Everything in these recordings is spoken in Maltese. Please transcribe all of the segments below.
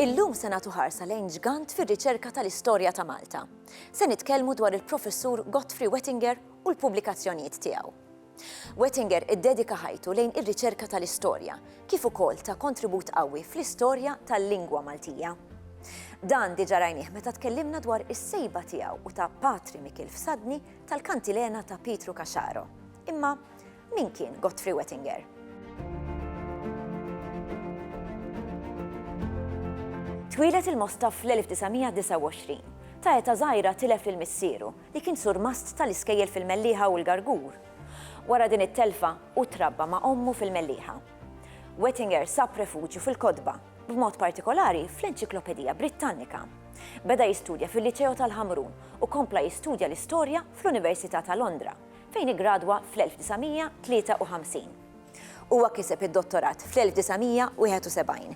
Illum se nagħtu ħarsa lejn ġgant fir-riċerka tal-istorja ta' Malta. Se nitkellmu dwar il-Professur Godfrey Wettinger u l-pubblikazzjonijiet tiegħu. Wettinger iddedika ħajtu lejn ir-riċerka tal-istorja, kif ukoll ta' kontribut qawwi fl-istorja tal-lingwa Maltija. Dan diġa rajnieh meta tkellimna dwar is-sejba tiegħu u ta' Patri Mikil Fsadni tal-kantilena ta' Pietru Caxaro. Imma min kien Godfrey Wettinger? Twieled il-Mosta fl-1929. Ta' eta żgħira tilef lil missieru, li kien surmast tal-iskejjel fil-Mellieħa u l-Gargur. Wara din it-telfa, hu trabba ma' ommu fil-Mellieħa. Wettinger sab refuġju fil-kotba, b'mod partikolari fl-Enċiklopedija Brittannika. Beda jistudja fil-Liċeo tal-Ħamrun u kompla jistudja l-Istorja fl-Università ta' Londra, fejn iggradwa fl-1953. Huwa kiseb id-Dottorat fl-1971.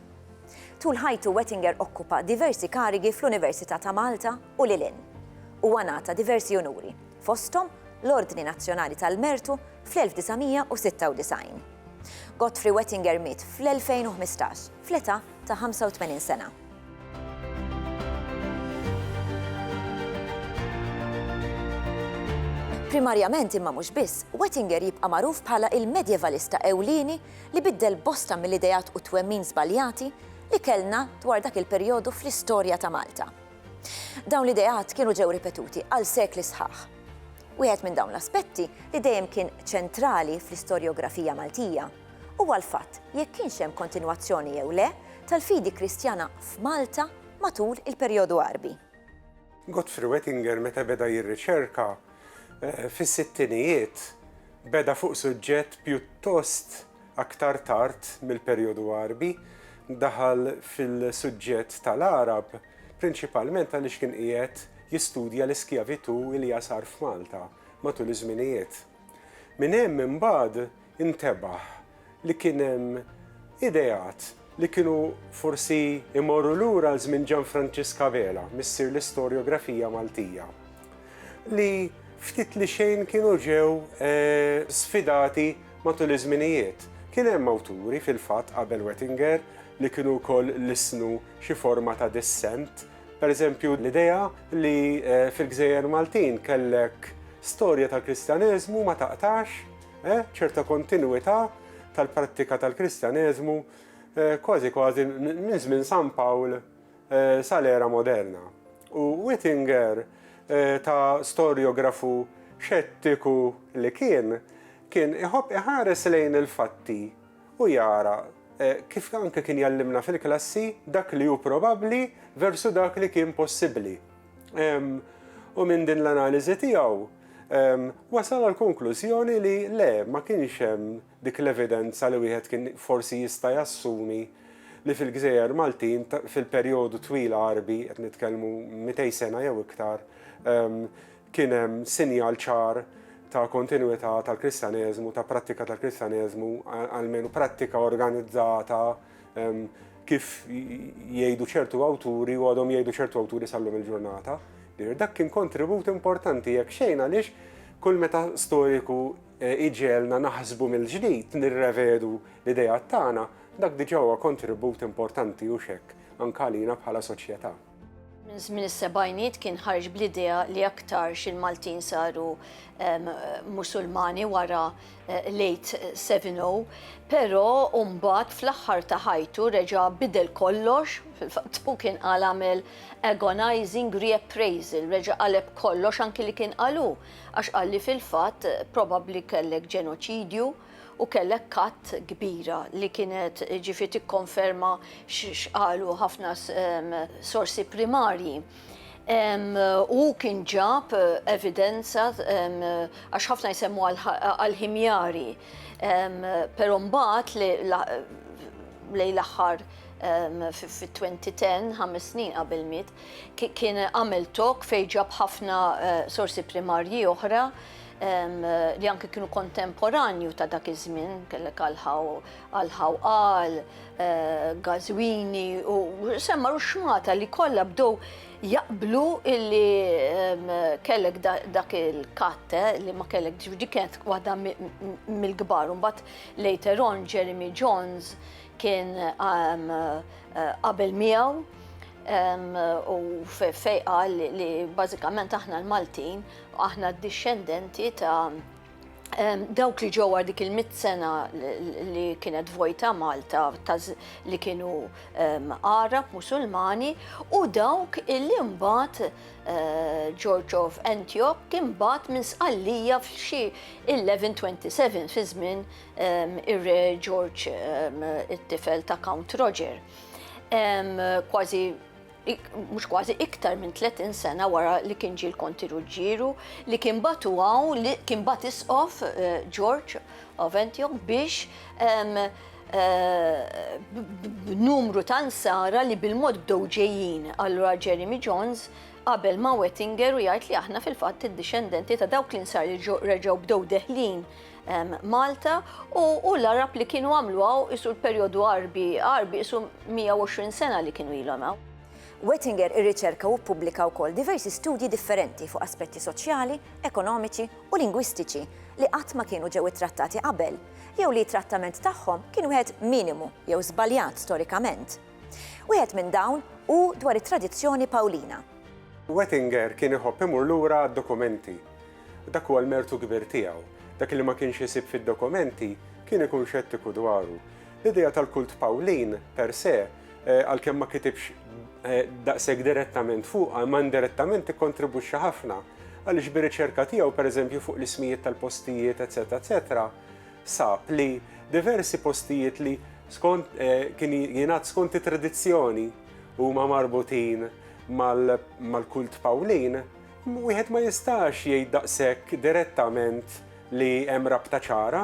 Tul ħajtu Wettinger okkupa diversi karigi fl-Università ta' Malta u lil hinn. Huwa ngħata diversi unuri, fosthom l-Ordni Nazzjonali tal-Mertu fl-1996. Godfrey Wettinger miet fl-2015 fl-età ta' 85 sena. Primarjament imma mhux biss, Wettinger jibqa' magħruf bħala il-medjevalista ewlieni li biddel bosta mill-ideat u twemmin żbaljati li kellna dwar dak il-perjodu fl-istorja ta' Malta. Dawn l-ideat kienu ġew ripetuti għal sekli sħaħ. Wieħed minn dawn l-aspetti li dejjem kien ċentrali fl-istorjografija Maltija huwa l-fatt jekk kienx hemm kontinwazzjoni jew le tal-fidi Kristjana f'Malta matul il-perjodu Għarbi. Godfrey Wettinger meta beda jirriċerka fis-sittinijiet beda fuq suġġett pjuttost Aktar tard mill-Perjodu Għarbi, daħal fil-suġġett tal-Għarab prinċipalment għaliex kien qiegħed jistudja l-iskjavitù li għasar f'Malta matul iż-żminijiet. Minn hemm imbagħad intebaħ li kien hemm ideat li kienu forsi jmorru lura għal żmien Ġanfranċisk Abela, missier l-istorjografija Maltija, li ftit li xejn kienu ġew sfidati matul iż-żminijiet. Kien hemm awturi, fil-fatt, qabel Wettinger, li kienu wkoll lissnu xi forma ta' dissent. Per eżempju, l-idea li fil-gżejjer Maltin kellek storja tal-Kristjaneżmu ma taqtax, Eh, ċerta kontinwità tal-prattika tal-Kristjaneżmu eh, kważi kważi minn żmien San Pawl eh, sal-era moderna. U Whittinger eh, ta' storjografu xettiku li kien, kien iħobb iħares lejn il-fatti u jara eh, kif anke kien jallimna fil-klassi dak li hu probabbli versu dak li kien possibbli. U minn din l-analiżi tiegħu wasal għal konklużjoni li le ma kienx hemm dik l-evidenza li wieħed kien forsi jista' jassumi li fil-gżejjer Maltin fil-perjodu twil għarbi, qed nitkellmu 200 sena jew iktar, ehm, kien hemm sinjal ċar ta' kontinwità tal-Kristjaneżmu, ta' prattika tal-Kristjaneżmu, almenu prattika organizzata Kif jgħidu ċertu awturi u għadhom jgħidu ċertu awturi sallum il-ġurnata, dak kien kontribut importanti jekk xejn għaliex kull meta storiku eh, iġelna naħsbu mill-ġdid nirrevedu l-idejat tagħna, dak diġà huwa kontribut importanti u xekk anke għalina bħala soċjetà. Minn żmien is-sebgħiniet kien ħareġ bl-idea li aktarx il-Maltin saru ehm, Musulmani wara eh, late 70, però mbagħad fl-aħħar ta' ħajtu reġa' bidel kollox, fil-fatt u kien qal għamel agonizing reappraisal, reġa' qaleb kollox anki li kien qalu, għax qalli fil-fatt probabbli kellek ġenoċidju, u kellek katt kbira li kienet ġifi tikkonferma x'qalu ħafna sorsi primarji. U kien ġab evidenza għax ħafna jsemmu għal-ħimjari, pero mbagħad li lej l-aħħar fit-2010, ħames snin qabel miet, kien għamel talk fejn ġab ħafna sorsi primarji oħra li anki kienu kontemporanju ta' dak iż-żmien, kellek għal-ħawqal, gażwini u semmar u xmata li kollha bdew jaqblu illi kellek dak il-katte li ma kellek ġudi kienet waħda mill-kbar. Mbagħad later on Jeremy Jones kien qabel miegħu u fejqa li bażikament aħna l-Maltin Aħna d-dixxendenti ta' dawk li ġew għal dik il-mitt sena li kienet vojta Malta li kienu Għarab Musulmani u dawk illi mbagħad eh, George of Antioch kien mbagħad minn Sqallija f'xi 1127 fi żmien ir-Re George it-tifel ta' Count Roger. Kważi mhux kważi, iktar minn 30 sena wara li kien ġie l-Konti Ruġġieru, li kien batu hawn, li kien bat isqof eh, George Aventjok biex ehm, eh, b'numru ta' nsara li bil-mod bdew ġejjin allura Jeremy Jones qabel ma' Wettinger u jgħid li aħna fil-fatt id-dixendenti ta' dawk li nsar li reġgħu bdew deħlin Malta u l-Arab li kienu għamlu għaw isu l-periodu Arbi, Arbi isu 120 sena li kienu ilhom għaw. Wettinger irriċerka u ppubblika wkoll diversi studji differenti fuq aspetti soċjali, ekonomiċi u lingwistiċi li qatt ma kienu ġew ittrattati qabel jew li t-trattament tagħhom kien wieħed minimu jew żbaljat storikament. Wieħed minn dawn hu dwar it-tradizzjoni Pawlina. Wettinger kien iħobb imur lura għad-dokumenti Dak huwa l-mertu kbir tiegħu. Dak li ma kienx isib fid-dokumenti, kien ikun xettiku dwaru. L-idea tal-kult Pawlin, per se, għalkemm ma kitibx daqshekk direttament fuqha, imma indirettament ikkontribwixxa ħafna, għaliex bir-riċerka tiegħu, per eżempju, fuq l-ismijiet tal-postijiet, eċċetera eċċetera, sab li diversi postijiet li skont, kien jingħad skont it-tradizzjoni, huma marbutin mal-kult Pawlin. Wieħed ma jistax jgħid daqshekk direttament li hemm rabta ċara,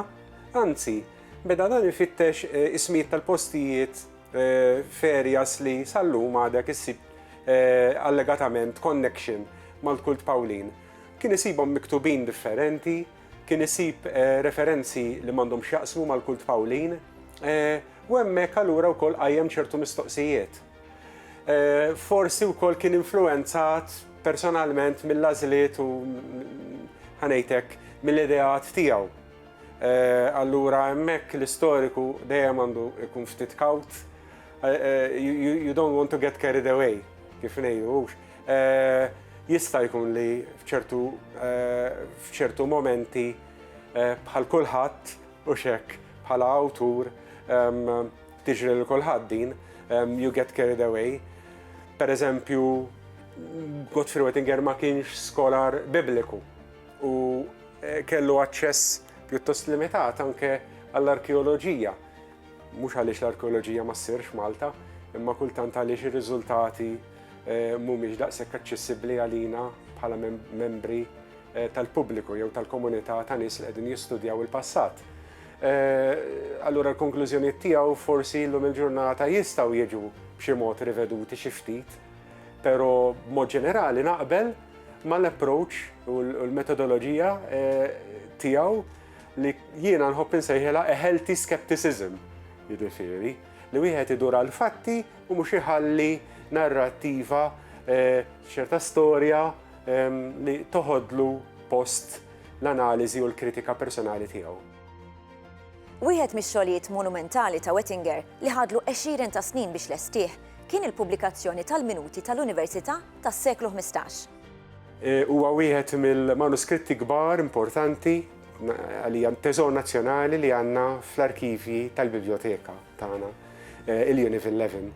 anzi, beda dan ifittex ismijiet tal-postijiet f'areas li sal-lum għadek issib allegatament connection mal-kult Pawlin. Kien isibhom miktubin differenti, kien isib referenzi li m'għandhom x'jaqsmu mal-kult Pawlin u hemmhekk allura wkoll qajjem ċertu mistoqsijiet. Forsi wkoll kien influwenzat personalment mill-għażliet u ħanejtek mill-ideat tiegħu. Allura hemmhekk l-istoriku dejjem għandu jkun ftit kawt. You don't want to get carried away, kif ngħidu hux. Jista' jkun li f'ċertu f'ċertu momenti bħal kulħadd, hux hekk, bħala awtur, Tiġri lil kulħadd din, you get carried away. Pereżempju, Godfrey Wettinger ma kienx skolar bibliku u eh, kellu aċċess pjuttost limitat anke għall-arkeoloġija. Mhux għaliex l-arkeoloġija ma ssirx Malta, imma kultant għaliex ir-riżultati eh, mhumiex daqshekk aċċessibbli għalina bħala membri eh, tal-pubbliku jew tal-komunità ta' nies li qegħdin jistudjaw il-passat. allura l-konklużjonijiet tiegħu forsi llum il-ġurnata jistgħu jiġu b'xi mod riveduti xi ftit, però b'mod ġenerali naqbel mal-approach u l-metodoloġija tiegħu li jiena nħobb insejħilha a healthy skepticism, jiġifieri li wieħed idur għall-fatti u mhux iħalli narrattiva, ċerta storja li toħodlu post l-analiżi u l-kritika personali tiegħu. Wieħed mix-xogħlijiet monumentali ta' Wettinger, li ħadlu għexieren ta' snin biex lestih, kien il-pubblikazzjoni tal-Minuti tal-Università tas-seklu ħmistax. Huwa wieħed mill-manuskritti kbar importanti, għalija teżor nazzjonali li għandna fl-arkivji tal-bibljoteka tagħna, il-Unit 11.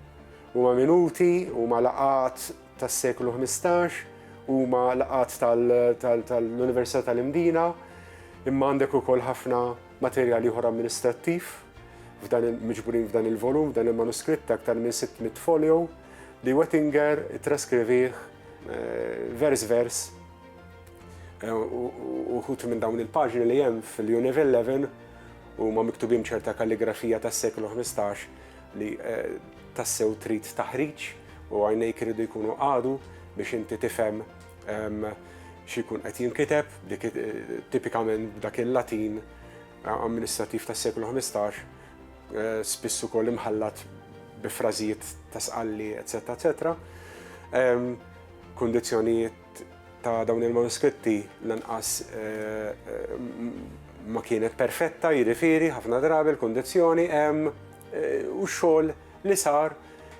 Huma minuti, huma laqgħat tas-seklu ħmistax, huma laqgħat tal-Università tal-Imdina, imma għandek ukoll ħafna materjal ieħor amministrattiv f'dan il-miġburin f'dan il-volum, f'dan il-manuskritt aktar minn 600 folio li Wettinger traskrivih eh, vers vers eh, uħut minn dawn il-paġni li hemm fil-Univille 11 u ma miktubim ċerta kalligrafija tas-seklu 15 li tassew trid taħriġ u għajnejk iridu jkunu qagħdu biex inti tifhem xi jkun qed jinkiteb, tipikament dak il-Latin amministrattiv tas-seklu 15, eh, spiss ukoll imħallat bi frażijiet ta' sqalli, eċetera, eċetera. Kundizzjonijiet ta' dawn il-manuskritti lanqas ma kienet perfetta, jiġifieri ħafna drabi l-kundizzjoni hemm u x-xogħol li sar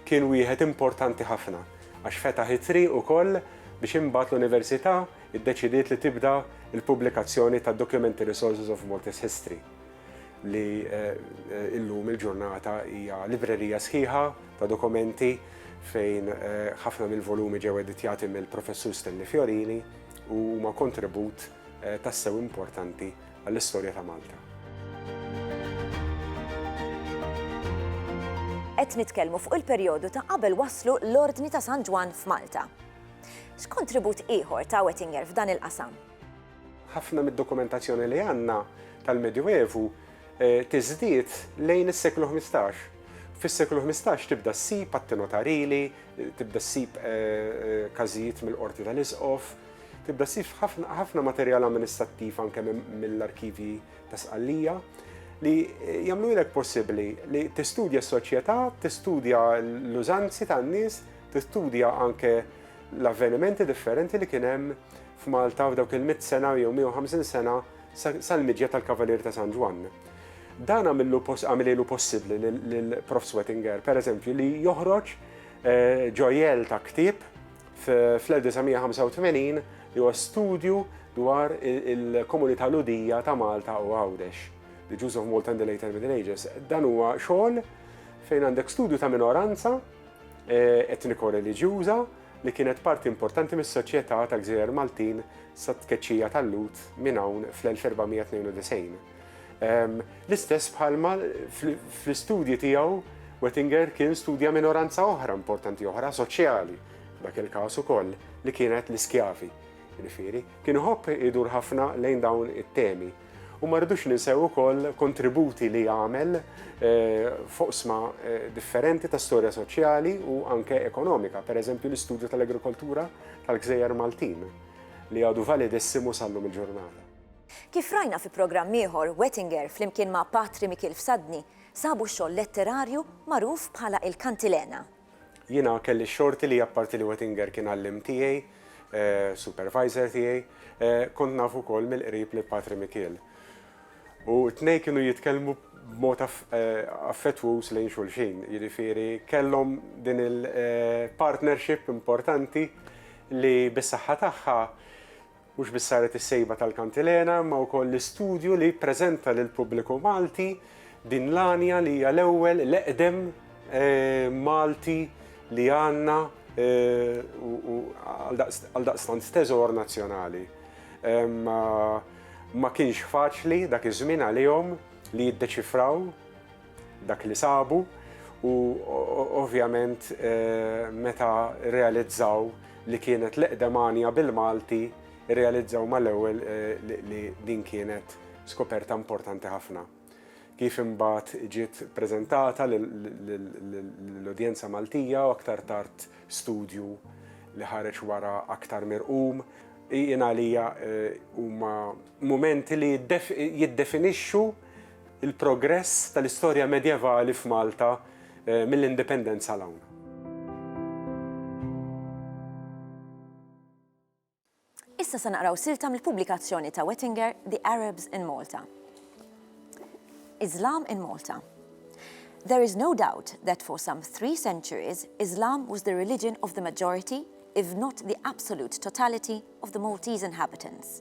kien wieħed importanti ħafna għax fetaħ it-triq ukoll biex imbagħad l-Università ddeċidiet li tibda l-pubblikazzjoni tad-Documentary Sources of Maltese History. li illum il-ġurnata hija librerija sħiħa ta' dokumenti fejn ħafna mill-volumi ġew editjati mill-Professur Stanley Fiorini u huma kontribut tassew importanti għall-istorja ta' Malta. Qed nitkellmu fuq il-perjodu ta' qabel waslu l-Ordni ta' San Ġwann f'Malta. X'kontribut ieħor ta' Wettinger f'dan il-qasam? Ħafna mid-dokumentazzjoni li għandna tal-Medjuevu tiżdied lejn is-seklu ħmistax. Fis-seklu ħmistax tibda ssib atti notarili, tibda ssib każijiet mill-Qorti tal-Isqof, tibda ssib ħafna materjal amministrattiv anke mill-arkivji ta' Sqallija li jagħmlulek possibbli li tistudja s-soċjetà, tistudja l-użanzi tan-nies, tistudja anke l-avvenimenti differenti li kien hemm f'Malta f'dawk il-mitt sena jew 150 sena sal-miġja tal-Kavalier ta' San Ġwann. Dan għamilielu possibbli lil Prof. Swettinger, per eżempju, li joħroġ ġojell ta' ktieb fl-1985 li huwa studju dwar il-komunità Lhudija ta' Malta u Għawdex, The Jews of Malta in the Later Middle Ages. Dan huwa xogħol fejn għandek studju ta' minoranza etniko-reliġjuża, li kienet parti importanti mis-soċjetà ta' gżejjer Maltin sat-tkeċċija tal-Lhud minn hawn fl-1492. L-istess bħalma fl-istudji tiegħu Wettinger kien studja minoranza oħra importanti oħra soċjali, dak il-każ ukoll li kienet l-iskjavi. Jiġifieri, kien iħobb idur ħafna lejn dawn it-temi. U ma rridux ninsew ukoll kontributi li għamel f'oqsma differenti ta' storja soċjali u anke ekonomika, per eżempju l-istudju tal-agrikoltura tal-gżejjer Maltin, li għadu validissimo sal-lum il-ġurnata. Kif rajna fi programm ieħor, Wettinger flimkien ma' Patri Mikiel Fsadni sabu xogħol letterarju magħruf bħala Il-Kantilena. Jiena kelli x-xorti li apparti li Wettinger kien għalliem tiegħi, supervisor tiegħi, kont naf ukoll mill-qrib lil Patri Mikiel. U t-tnejn kienu jitkellmu b'mod affettwuż lejn xulxin, jiġifieri kellhom din il-partnership importanti li bis-saħħa tagħha, Mhux biss saret is-sejba tal-Kantilena imma wkoll l-istudju li jippreżenta lill-pubbliku Malti din l-għanja li hija l-ewwel, l-eqdem Malti li għandna u għaldaqstant teżor nazzjonali. Ma kienx faċli dak iż-żmien għalihom li jiddeċifraw dak li sabu u ovvjament meta rrealizzaw li kienet l-eqdem għanja bil-Malti, irrealizzaw mal-ewwel li din kienet skoperta importanti ħafna. Kif imbagħad ġiet preżentata lill-udjenza Maltija u aktar tard studju li ħareġ wara aktar mirqum, jien għalija huma mumenti li jiddefinixxu Il-progress tal-istorja medjevali f'Malta mill-Indipendenza 'l hawn. Issa se naqraw silta mill-pubblikazzjoni ta' Wettinger The Arabs in Malta. Islam in Malta. There is no doubt that for some three centuries Islam was the religion of the majority, if not the absolute totality, of the Maltese inhabitants.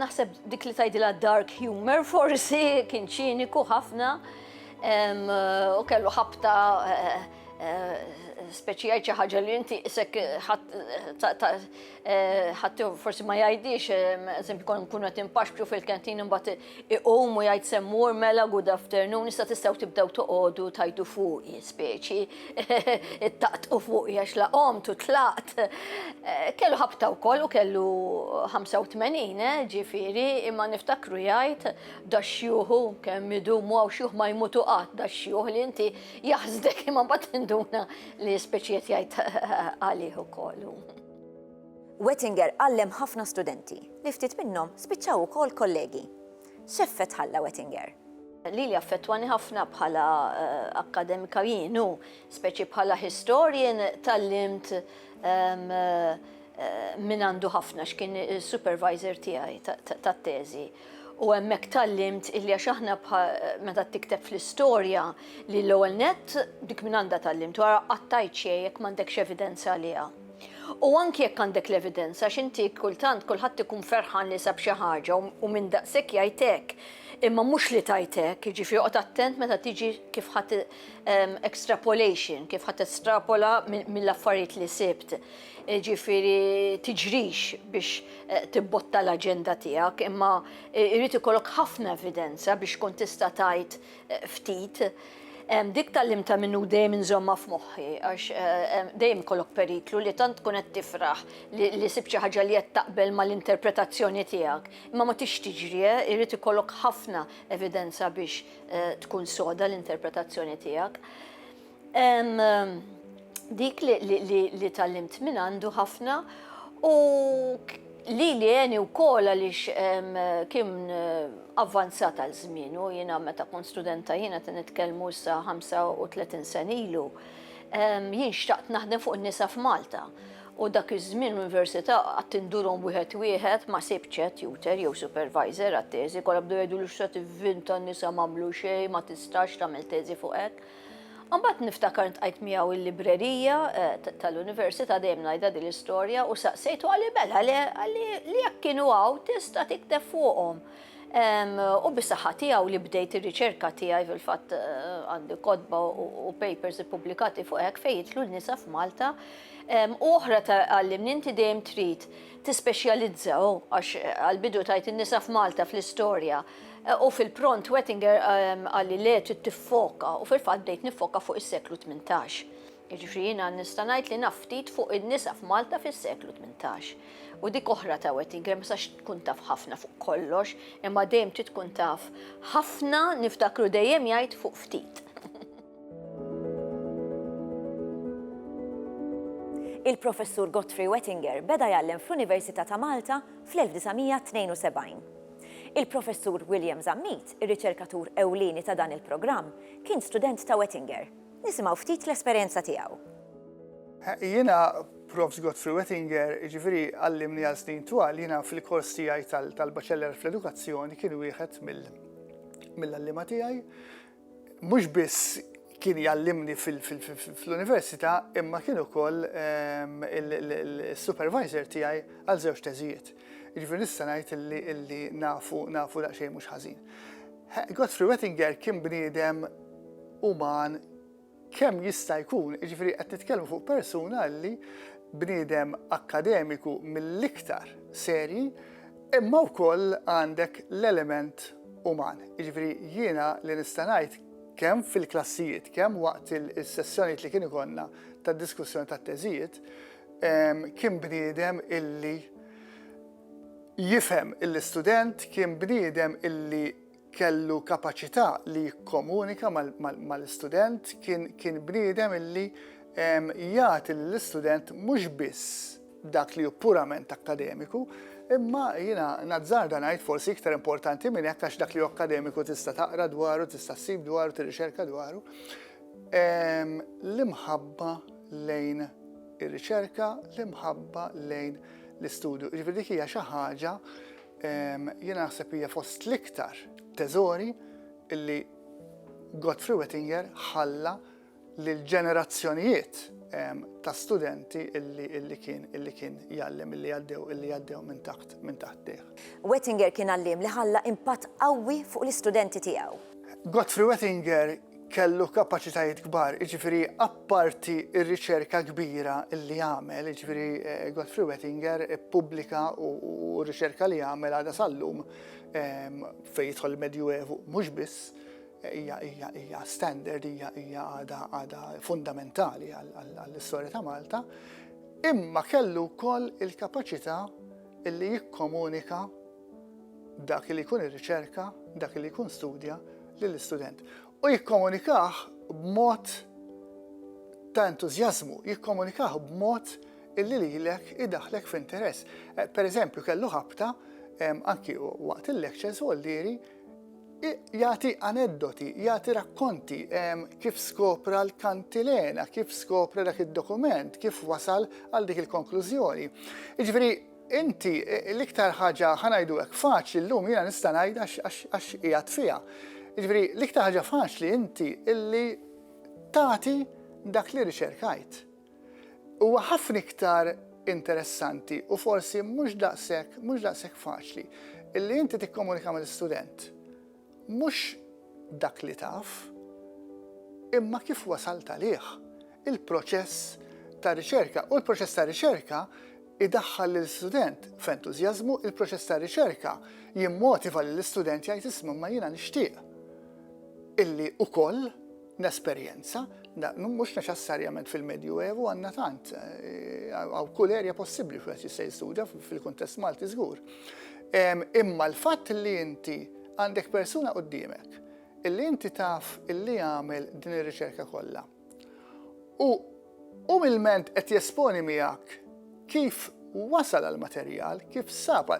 Naħseb dik li tajdila dark humor forsi kien ċiniku ħafna u kellu ħabta eh, eh, speċjal xi ħaġa li inti isek ħadd forsi ma jgħidix, eżempju kon nkunu qed impaxxu fil-kantin imbagħad iqum u jgħid semmur mela good afternoon, issa tistgħu tibdew toqogħdu tajdu fuq speċi. Ittaqtqu fuqi għax la qomt u tlaqt. Eh, kellu ħabta wkoll u kellu 85 eh, ġifieri imma niftakru jgħid da xjuħu kemm idumu għaw xjuħ ma jmutu qatt da xjuħ li inti jaħsdek imma mbagħad tinduna li speċiet jgħid għalih ukoll. Wettinger għallem ħafna studenti li ftit minnhom spiċċaw ukoll kollegi. X'effett ħalla Wettinger? Lili affettwani ħafna bħala akkademika jien u speċi bħala historian tallimt minn għandu ħafna x'kien supervisor tiegħi tat-teżi. U hemmhekk tallimt illi għax aħna meta tikteb fl-istorja li l-ewwel net dik minn għandha tallimt wara qattajt xejn jekk m'għandekx evidenza għaliha. U anki jekk għandek l-evidenza, għax inti kultant kulħadd ikun ferħan li sab xi ħaġa u u min daqshekk jgħid hekk. Imma mhux li tgħid hekk, jiġifieri oqgħod attent meta tiġi kif ħadd ehm, extrapolation, kif ħadd estrapola minn mill-affarijiet li sibt. Jiġifieri tiġrix biex eh, tibbotta l-aġenda tiegħek, imma eh, irid ikollok ħafna evidenza biex tkun tista' tgħid ftit, dik tallim ta' minnu dejjem inżomma f'moħħi, għax dejjem kollok periklu li tant tkun qed tifraħ li sib xi ħaġa li qed taqbel mal-interpretazzjoni tiegħek. Imma ma tix tiġri, irid ikollok ħafna evidenza biex tkun soda l-interpretazzjoni tiegħek. Dik li tallimt minn għandu ħafna u li li għeni u kol għalix kien avvanzat għal zminu, jina meta kun studenta jina t nitkelmu sa 35 sen ilu, jien xtaqt naħdem fuq nisa f'Malta. U dak iż-żmien l-università għad tindurom wieħed wieħed ma sibċe tutor jew supervisor għat-teżi, kollha bdew jgħidulux se tivvinta n-nisa m'għamlu xejn, ma tistax tagħmel teżi fuq hekk. Mbagħad niftakar ntqajt miegħu l-librerija eh, tal-università dejjem ngħidha din l-istorja u saqsejtu għalli mela għalli li jekk kienu hawn tista' tikteb fuqhom. U bisaħħa tiegħu li bdejt ir-riċerka tiegħi fil-fatt eh, għandi kodba u papers ippubblikati fuq hekk fejn jitlu n-nisa f'Malta. U oħra għallimni inti dejjem trid tispeċjalizzaw għax eh, għal-bidu tajt in-nisa f'Malta fl-istorja. U fil-pront Wettinger qal li le trid tiffoka u fil-fatt bdejt niffoka fuq is-seklu 18. Jiġifieri jiena nista' ngħid li naf ftit fuq in-nisa f'Malta fis-seklu 18. U dik oħra ta' Wettinger ma tistax tkun taf ħafna fuq kollox, imma dejjem trid tkun taf ħafna niftakru dejjem jgħid fuq ftit. Il-Professur Godfrey Wettinger beda jgħallem fl-Università ta' Malta fl-1972. Il-Professur William Zammit, ir-riċerkatur ewlieni ta' dan il-programm, kien student ta' Wettinger. Nisimgħu ftit l-esperjenza tiegħu. Jiena Profs. Godfrey Wettinger, jiġifieri għallimni għal snin twal, jiena fil-kors tiegħi tal-Baċellar fl-Edukazzjoni kien wieħed mill-għalliema tiegħi. Mhux biss kien jgħallimni fl-università imma kien ukoll ehm, il-supervisor tiegħi għal żewġ teżijiet. Ġifieri nista' ngħid illi nafu nafu daqsxejn mhux ħażin. Godfrey Wettinger kien bniedem uman kemm jista' jkun, jiġifieri qed nitkellmu fuq persuna li bniedem akkademiku mill-iktar serji, imma wkoll għandek l-element uman. Jiġifieri jiena li nista' ngħid kemm fil-klassijiet, kemm waqt is-sessjonijiet li kien ikollna tad-diskussjoni tat-teżijiet, kien bniedem illi jifhem lill-istudent, kien bniedem illi kellu kapaċità li jikkomunika mal-istudent, kien bniedem illi jagħti lill-istudent mhux biss dak li hu purament akkademiku, imma jiena nazzarda ngħid forsi iktar importanti minn hekk għax dak li hu akkademiku tista' taqra dwaru, tista' ssib dwaru, tirrixerka dwaru, l-imħabba lejn ir-riċerka, l-imħabba lejn l-istudju. Jiġifieri dik hija xi ħaġa Jiena naħseb hija fost l-iktar teżori illi Godfrey Wettinger ħalla lil ġenerazzjonijiet ta' studenti illi kien illi kien jgħallem illi għaddew illi għaddew minn taħt minn taħt tih. Wettinger kien għalliem li ħalla impatt qawwi fuq l-istudenti tiegħu. Godfrey Wettinger kellu kapaċitajiet kbar, jiġifieri apparti r-riċerka kbira li għamel, jiġifieri eh, Godfrey Wettinger ippubblika u r-riċerka li għamel għadha sal-lum ehm, fejn jidħol il-Medjuevu mhux biss hija hija hija standard hija hija għada għada fundamentali għall-istorja ta' Malta, imma kellu wkoll il-kapaċità li jikkomunika dak li jkun irriċerka, dak li jkun studja lill-istudent. U jikkomunikah b'mod ta' entużjażmu, jikkomunikah b'mod illi lilek idaħlek f'interess. Eh, per eżempju, kellu ħabta anki waqt il-lectures u għalliri jagħti aneddoti, jagħti rakkonti kif skopra l-kantilena, kif skopra dak id-dokument, kif wasal għal dik il-konklużjoni. Iġveri, Inti, l-iktar ħaġa, ħa ngħidu hekk, faċli llum, jiena nista' ngħid għax qiegħed fiha, jiġifieri l-iktar ħaġa faċli inti illi tagħti dak li riċerkajt. Huwa ħafna iktar interessanti u forsi mhux daqshekk mhux daqshekk faċli illi inti tikkomunika mal-istudent Mhux dak li taf, imma kif wasalt għalih, il-proċess ta' riċerka. U l-proċess ta' riċerka jdaħħal lill-istudent f'entużjażmu, il-proċess ta' riċerka jimmotiva lill-istudent jgħid isma' imma jiena nixtieq illi ukoll, Nesperjenza, mhux neċessarjament fil-Medju Evu għandna tant, għaw kull erja possibbli fejn jista' jistudja fil-kuntest Malti żgur. Imma l-fatt li inti għandek persuna quddiemek illi inti taf illi għamel din ir-riċerka kollha u Umilment qed jesponi miegħek kif wasal għall-materjal, kif sab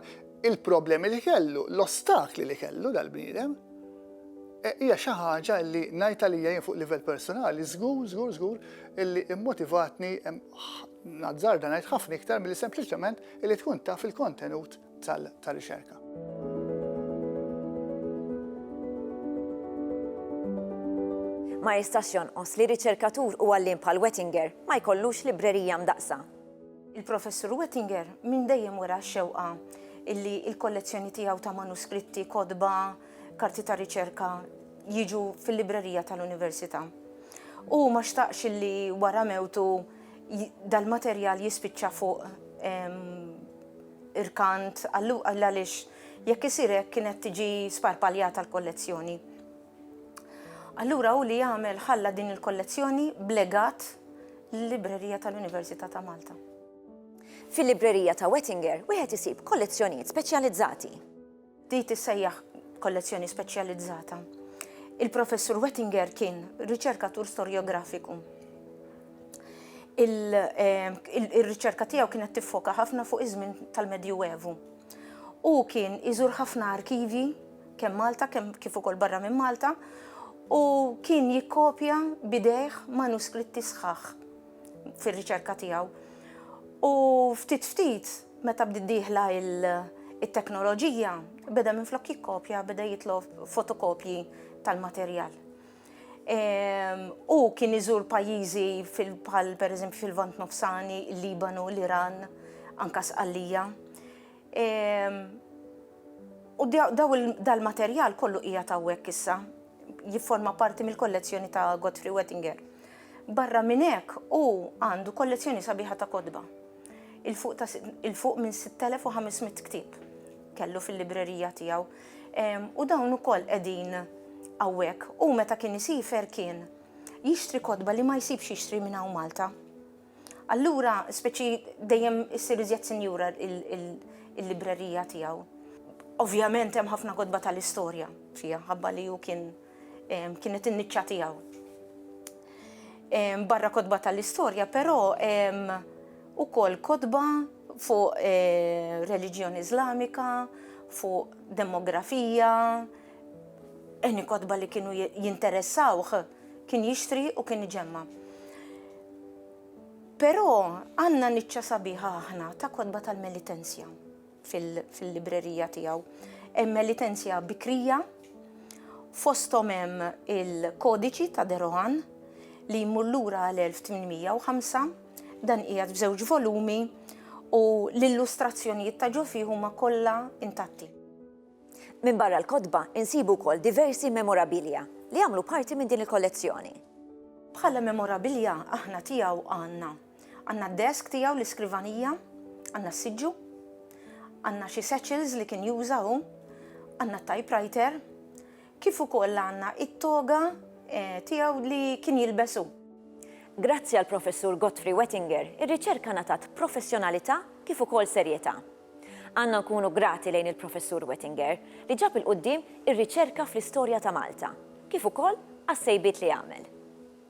il-problemi li kellu, l-ostakli li kellu dal-bniedem. Hija xi ħaġa li ngħid għalija jien fuq livell personali, żgur, żgur, żgur illi immotivatni nazzarda ngħid ħafna iktar milli sempliċement illi tkun taf il-kontenut tar-riċerka. Ma jistax jonqos li riċerkatur u għalliem bħal Wettinger ma jkollux librerija mdaqqsa. Il-Professur Wettinger minn dejjem wera x-xewqa illi l-kollezzjoni tiegħu ta' manuskritti, kotba, karti ta' riċerka jiġu fil-librerija tal-Università. U ma xtaqx illi wara mewtu dal-materjal jispiċċa fuq irkant għall-għaliex jekk isir hekk kienet tiġi sparpaljata l-kollezzjoni. Allura u li jagħmel ħalla din il-kollezzjoni blegat l-Librerija tal-Università ta' Malta. Fil-Librerija ta' Wettinger wieħed isib kollezzjonijiet speċjalizzati. Di tissejjaħ kollezzjoni speċjalizzata. Il-Professur Wettinger kien riċerkatur storjografiku. Ir-riċerka tiegħu kienet tiffoka ħafna fuq iż-żmien tal-Medjuevu. U kien iżur ħafna arkivji kemm Malta kemm kif ukoll barra minn Malta u kien jikkopja bidejh manuskritti sħaħ fir-riċerka tiegħu. U ftit ftit Meta bdiet dieħla t-teknoloġija, beda minflok jikkopja beda jitlob fotokopji tal-materjal. Hu kien iżur pajjiżi bħal pereżempju fil-Lvant Nofsani, il-Libanu, l-Iran, anke Sqallija. U dal-materjal kollu qiegħed hawnhekk issa, jifforma parti mill-kollezzjoni ta' Godfrey Wettinger. Barra minn hekk, hu għandu kollezzjoni sabiħa ta' kotba. il-fuq minn 6500 ktieb kellu fil-librerija tiegħu. U dawn ukoll qegħdin hawnhekk. U meta kien isifer kien jixtri kotba li ma jsibx jixtri minn hawn Malta. Allura, speċi dejjem issir iżjed sinjura il-librerija tiegħu. Ovvjament hemm ħafna kotba tal-istorja fiha, ħabba li hu kien kienet in-niċċa tiegħu. Barra kotba tal-istorja, però ukoll kotba fuq eh, reliġjoni Islamika, fuq demografija, eni kodba li kienu jinteressawħ kien jixtri u kien iġemma. Pero għanna niċċa sabiħa aħna ta' kodba tal-melitenzja. fil-librerija tiegħu. Hemm elitenzja bikrija, fosthom hemm il-kodiċi ta' Derohan li jmur lura għal 1805, dan qiegħed f'żewġ volumi u l-illustrazzjonijiet ta' ġo fih huma kollha intatti. Minn barra l-kotba insibu wkoll diversi memorabilia li jagħmlu parti minn din il-kollezzjoni. Bħala memorabilia aħna tiegħu għandna Għandna d-desk tiegħu, l-iskrivanija, għandna s-siġġu, għandna xi satchels li kien juża hu, għandna t-typewriter, kif ukoll għandna it-toga eh, tiegħu li kien jilbes hu. Grazzi għal professur Godfrey Wettinger, ir-riċerka natat professjonalità kif ukoll serjetà. Għandna nkunu grati lejn il-professur Wettinger li ġab il-qudiem ir-riċerka fl-istorja ta' Malta, kif ukoll għas-sejbiet li għamel.